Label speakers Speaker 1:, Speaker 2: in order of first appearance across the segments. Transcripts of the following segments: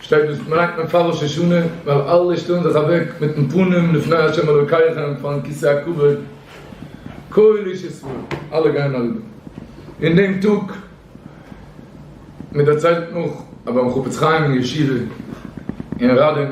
Speaker 1: שטייט דאס פנאק מען פאר ראש השנה ווייל אלע שטעלן זיך אוועק מיטן פנים לפני ה' אלוקיכם פארן כסא הכבוד כל איש ישראל אלע גייען אריבער אין דעם טאג מען דערציילט נאך אז ביים חפץ חיים אין ישיבה אין ראדעם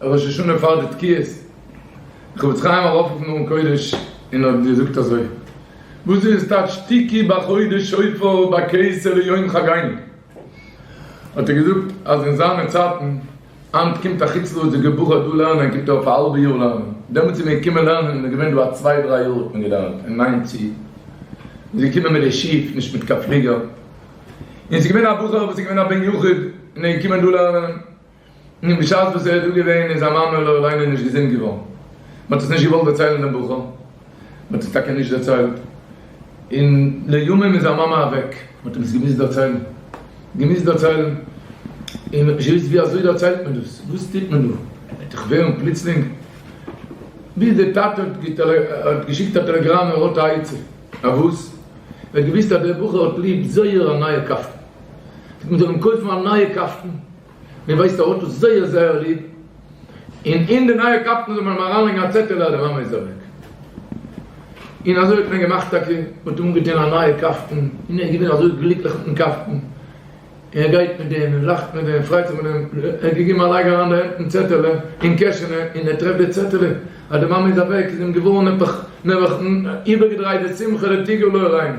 Speaker 1: ראש השנה פאר די תקיעות חפץ חיים ארויפרופן ארון קודש און האט געזאגט אזוי וואס איז טייטש תקיע בחודש שופר ביי קיסר ליום חגינו האט ער געזאגט אז אין זיינע צייטן היינט קומט א חוץ לארצ'דיגער בחור דא לערנען קומט ער אויף א האלבע יאר לערנען דעמאלטס איז מען געקומען לערנען און איז געווען דא א צוויי דריי יאר האט מען געלערנט און היינט צו איז געקומען מיט די שיף נישט מיט קיין פליגער און ס'איז געווען א בחור וואס איז געווען א בן יחיד און איז געקומען דא לערנען. און בשעת וואס ער איז דא געווען איז זיין מאמע לא עלינו נישט געזונט געווארן, מען האט עס נישט געוואלט דערציילן דעם בחור, מען האט עס טאקע נישט דערציילט, און לימים איז זיין מאמע אוועק, מען האט אים עס געמוזט דערציילן, געמוזט דערציילן, און מען האט נישט געוואוסט ווי אזוי דערציילט מען דאס, וואס טוט מען דא, וועט דאך ווערן פלוצלינג, ביז דער טאטע האט געשיקט א טעלעגראם ער האט א עצה, א וואס? ער האט געוואוסט אז דער בחור האט ליב זייער א נייע קאפטן, זאל מען אים קויפן א נייע קאפטן. מיר ווייסט ער האט דאס זייער זייער ליב, און אין די נייע קאפטן זאל מען אים אריינלייגן א צעטעלע אז די מאמע איז אוועק. און אזוי האט מען געמאכט טאקע, מען האט אנגעטון א נייע קאפטן, און ער איז געווען אזוי גליקליך מיטן קאפטן, ער גייט מיט דעם, ער לאכט מיט דעם, ער פריידט זיך מיט דעם, ער האט געגעבן א לייג אריין די הענט אין צעטעלע אין קעשענע, און ער טרעפט די צעטעלע אז די מאמע איז אוועק, איז אים געווארן נעבעך, נעבעך איבערגעדרייט די שמחה לטיגו לא ראינו.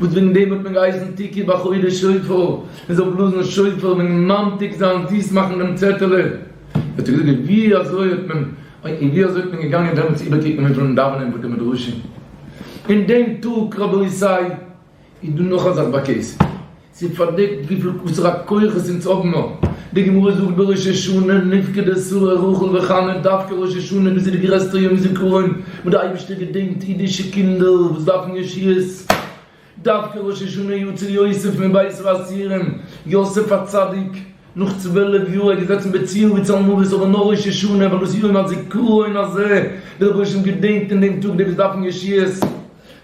Speaker 1: וואס וועגן דעם האט מען געהייסן תקעו בחודש שופר, מען זאל בלאזן שופר וועגן ממתיק זיין, זיס מאכן דעם צעטעלע. האט ער געזאגט ווי אזוי האט מען, און ווי אזוי איז מען געגאנגען דעמאלטס איבערקוקן וויפיל מען דאווענען אין בתי מדרשים אין דעם טאג, רבותי איז דא נאך א זאך ביי קעי סי, ס'איז פארדעקט וויפיל וואסערע א כח עס אונז האבן מיר, די גמרא זאגט בראש השנה נפקד אסור רחל וחנה, דווקא ראש השנה וואס איז די גרעסטע יום זכרון, וואס די אייבערשטער געדענקט אידישע קינדער וואס דארפן ישועות, דווקא ראש השנה יו ט צו יוסף מבית האסירים, יוסף הצדיק, נאך צוועלף יאר ער איז געזעצן בציון בצל מוות אבער נאך ראש השנה ווען דאס יום הזיכרון הזה די רבושע געדענקט אין דעם טאג די וואס דארפן ישועות,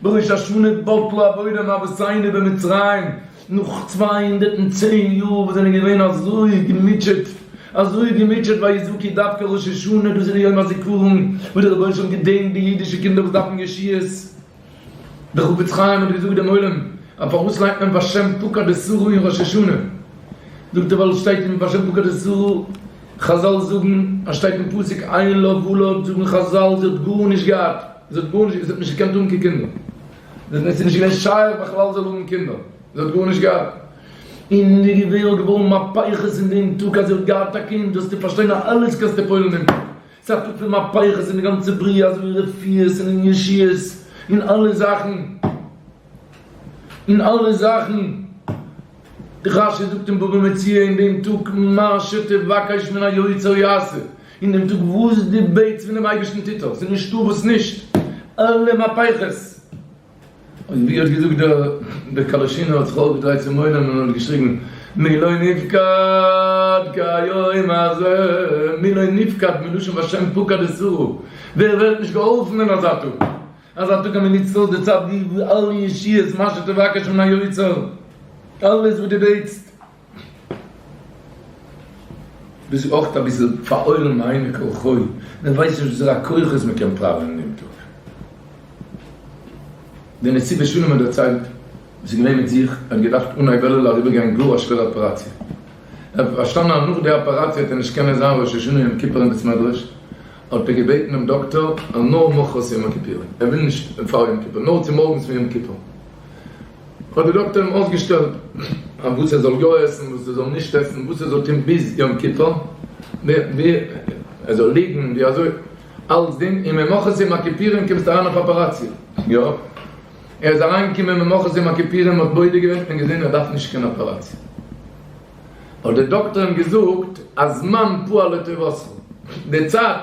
Speaker 1: בראש השנה בטלה עבודה מאבותינו במצרים, נאך צוויי הונדערט און צען יאר וואס זענען געווען אזוי געמוטשעט, אזוי געמוטשעט ביי איזוקי דווקא ראש השנה דאס איז יום הזיכרון וואס דער רבונו של עולם געדענקט די אידישע קינדער וואס דארפן ישועות, דער חפץ חיים האט געזאגט דעם עולם אז פארוואס לייגט מען בשם פקד אסרו אין ראש השנה, זאגט ער ווייל עס שטייט אין בשם פקד אסרו, חזל זאגן אז שטייט אין פסוק עין לא ולד זאגן חזל זי האט גארנישט געהאט, זי האט גארנישט, זי האט נישט געקענט האבן קיין קינדער. ווען עס איז נישט געווען שייך בכלל זאל האבן קינדער, זי האט גארנישט געהאט, און די געווער האט געווארן מהפכות אין דעם טאג אז זי האט געהאט א קינד, דארפסטו פארשטיין אז אלעס קאסט אפ אויל און פייער, ס'איז א טאג פון מהפכות אין די גאנצע בריאה אזויווי רפואות און ישועות און אלע זאכן, און אלע זאכן, רשי זאגט אין בבא מציעא אין דעם טאג מה שתבקש מן היוצר יעשה, אין דעם טאג וואס דו בעטס פונעם אייבערשטן טוט ער, ס'איז נישטא וואס נישט, אלע מהפכות. און ווי האט געזאגט דער דער קאלאשינער האט זיך אויפגעדרייט צום עולם און האט געשריגן, מי לא נפקד כהיום הזה, מי לא נפקד מלשון בשם פקד את שרו, ווער ווערט נישט געהאלפן אין אזא טאג, אזא טאג אז מען נוצט אויס די צייט ווי אלע ישועות מה שתבקש מן היוצר, אלעס וואס דו בעטסט. ביסט אויך אביסל פארהוילן מיינע כלחוי, מען ווייסט נישט וואסערע כוחות מען קען פראווען דעם טאג. די נציבה שלום האט דערציילט וואס איז געווען מיט זיך, ער האט געדארפט אן אייוועלעלע אריבערגיין גאר א שווערע אפעראציע, ער האט פארשטאנען אז נאך די אפעראציע וועט ער נישט קענען זיין ראש השנה יום כיפור אין בית מדרש, האט ער געבעטן דעם דאקטאר אז נאר מחרת יום הכיפורים, ער וויל נישט פאר יום כיפור, נאר צומארגנס פון יום כיפור. האט די דאקטער אים אויסגעשטעלט א וואס ער זאל יא עסן וואס ער זאל נישט עסן וואס ער זאל טון ביז יום כיפור ווי ער זאל ליגן ווי אזוי אלצדינג און ממחרת יום הכיפורים קומסטו אריין אויף אפעראציע יא ער איז אריין געקומען ממחרת יום הכיפורים מ'האט בודק געווען און געזען ער דארף נישט קיין אפעראציע האט די דאקטער אים געזאגט הזמן פועל לטובתך די צייט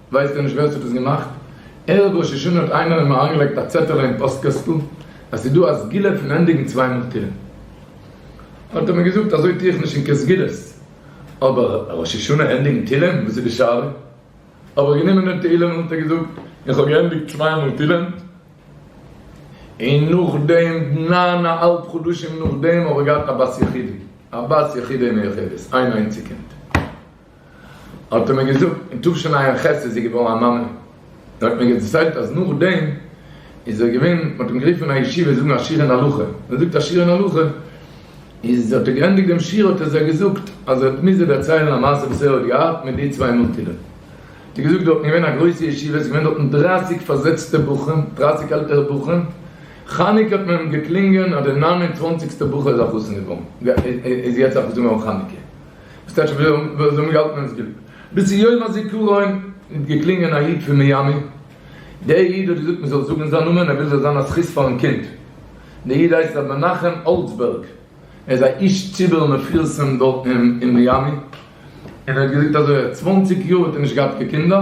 Speaker 1: ווייסט ער נישט ווער ס'האט עס געמאכט? ערב ראש השנה האט איינער אים אריינגעלייגט א צעטעלע אין פאסט קעסטל אז ס'דא א סגולה פון ענדיגן צוויי מאל תהילים. האט ער מיר געזאגט אזוי טוה איך נישט אין קיין סגולות. אבער ראש השנה ענדיגן תהילים? וואס איז די שאלה? האב איך גענומען דעם תהילים און האט ער געזאגט איך האב געענדיגט צוויי מאל תהילים. און נאכדעם ניין א האלב חדשים נאכדעם האב איך געהאט א בת יחידי, א בת יחידי מיוחדת, איין איינציג קינד. האט ער מיר געזאגט אין תשנ א ח' איז זי געווארן א מאמע, ער האט מיר דערציילט אז נאכדעם איז ער געווען, מען האט אים גערופן אין א ישיבה זאגן א שיר אין הלכה, ווען ער זאגט א שיר אין הלכה, איז האט ער געענדיגט דעם שיר האט ער זיי געזאגט אז ער האט מוז זיי דערציילן א מעשה וואס ער האט געהאט מיט די צוויי מוטירן, האט ער געזאגט דארטן איז געווען א גרויסע ישיבה, עס איז געווען דארטן דרײַסיק פארזעצטע בחורים, דרײַסיק עלטערע בחורים, חנוכה האט מען קלינגען אז די נײַן און צוואַנציק סטע בחור איז א חתן געווארן, איז יעצט א חתן געווארן חנוכה. סטעטש ווי וואס זענען געהאלטן ווען עס גיבט ביז צו יום הזיכרון איז געקלינגען א איד פון מיאמי דער איד האט געזאגט מען זאל זאגן זיין נאמען ער וויל זאל זיין א זכות פארן קינד דער איד הייסט ר' מנחם אולצבערג ער איז א איש ציבור מפורסם דארטן אין מיאמי און ער האט געזאגט אזוי אז צוואנציג יאר האט ער נישט געהאט קיין קינדער.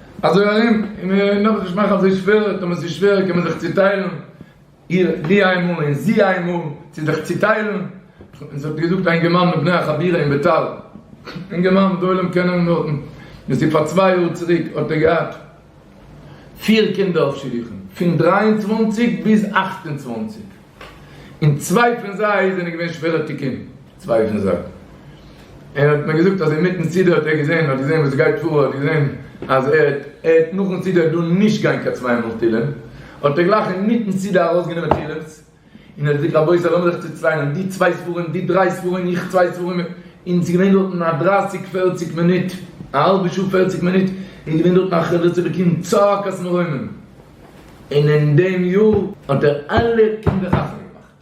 Speaker 1: אזוי ארום, און און לאמיר עס נישט מאכן אזוי שווער, און ווען עס איז שווער קען מען זיך צוטיילן, איר לי איימאל און זי איימאל, צו זיך צוטיילן, און ס'האט געזאגט א אינגערמאן מבני החבירה אין ביתר, אינגערמאן וואס די עולם קען אים נאך, דאס איז פאר צוויי יאר צוריק, האט ער געהאט פיר קינדער אויף שידוכים, פון דרײַ און צוואַנציק ביז אַכט און צוואַנציק, און צוויי פון זיי זענען געווען שווערע תיקונים. צווייטע זאך, ער האט מיר געזאגט אז אינמיטן סידור האט ער געזען, ער האט געזען וואס עס גייט פאר, ער האט געזען אז ער ער העט נאכן סידור דא נישט גיין קיין צוויי מאל תהילים, האט ער גלייך אינמיטן סידור ארויסגענומען תהילים'ס, און ער האט געזאגט רבותי לאמיר זיך צוטיילען, די צוויי ספרים, די דריי ספרים, איך צוויי ספרים, און עס איז געווען דארטן א דרייסיג פערציג מינוט, א האלבע שעה פערציג מינוט, איז געווען דארטן א חרדת אלוקים צעקת מרומם, און אין דעם יאר האט ער אלע קינדער חתונה געמאכט.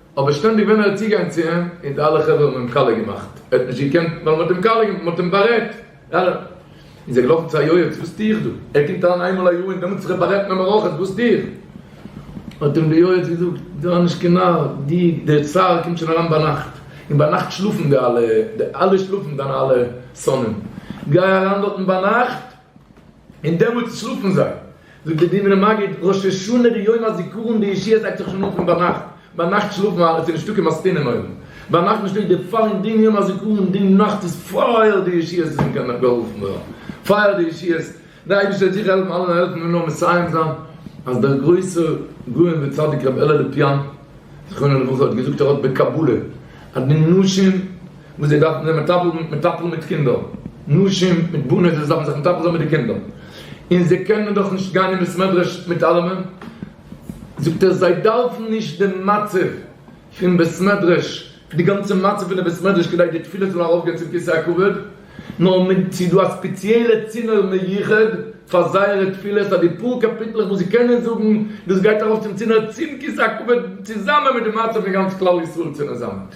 Speaker 1: אבער שטענדיג ווען ער איז צוגעגאנגען צו אים און די אלע חברה האבן אים כלה געמאכט, ער האט נישט געקענט ווייל מען האט אים כלה געמאכט, מען האט אים בארעדט, ארעם איז ער געלאפן צו א יועץ, וואס טו איך דא? ער קומט אריין איינמאל א יאר און דעמאלטס איז ער בארעדט מען מערכות, וואס טו איך? האט אים די יועץ געזאגט, זיי נישט קיין נאר, די די צער קומט שוין אריין ביינאכט, און ביינאכט שלאפן די אלע, די אלע שלאפן דיינע אלע שונאים, גיי אריין דארטן ביינאכט, און דעמאלט שלאפן זיי. זאגט דער דינער מגיד, ראש השנה די יום הזיכרון די ישיבה זייגט זיך שוין אן פון ביינאכט, ביינאכט שלאפן אלע, עס איז נישטא קיין מסטינע אין אויוון, ביינאכט נישטא, איז דער פאר און דין יום הזיכרון די נאכט איז פייער די ישיבה איז אין קיין גערופן ווערן, פייער די ישיבה, דער אייבערשטער וועט זיכער העלפן אלע העלפן מיר נאר מסיים זיין, אז דער גרויסער גאון וצדיק רבי אלע לופיאן זכרונו לברכה האט געזאגט ער האט בקבלה אז די נשים וואס זיי דארפן זיך מטפל מיט מטפל מיט קינדער, נשים מיט בנות וואס דארפן זיך מטפל זיין מיט די קינדער, און זיי קענען דאך נישט גיין אין בית מדרש מיט אלעמען, זאגט ער זיי דארפן נישט די מצב פון בית מדרש, די גאנצע מצב פון די בית מדרש כדי די תפילות זאלן ארויפגיין צום כסא הכבוד, נאר מען ס'איז דא א ספעציעלע צינור מיוחד פאר זייערע תפילות אז די פאר קאפיטלעך וואס זיי קענען זאגן דאס גייט ארויף צום צינור צום כסא הכבוד צוזאמען מיט די מצב פון גאנץ כלל ישראל צונעזאמט.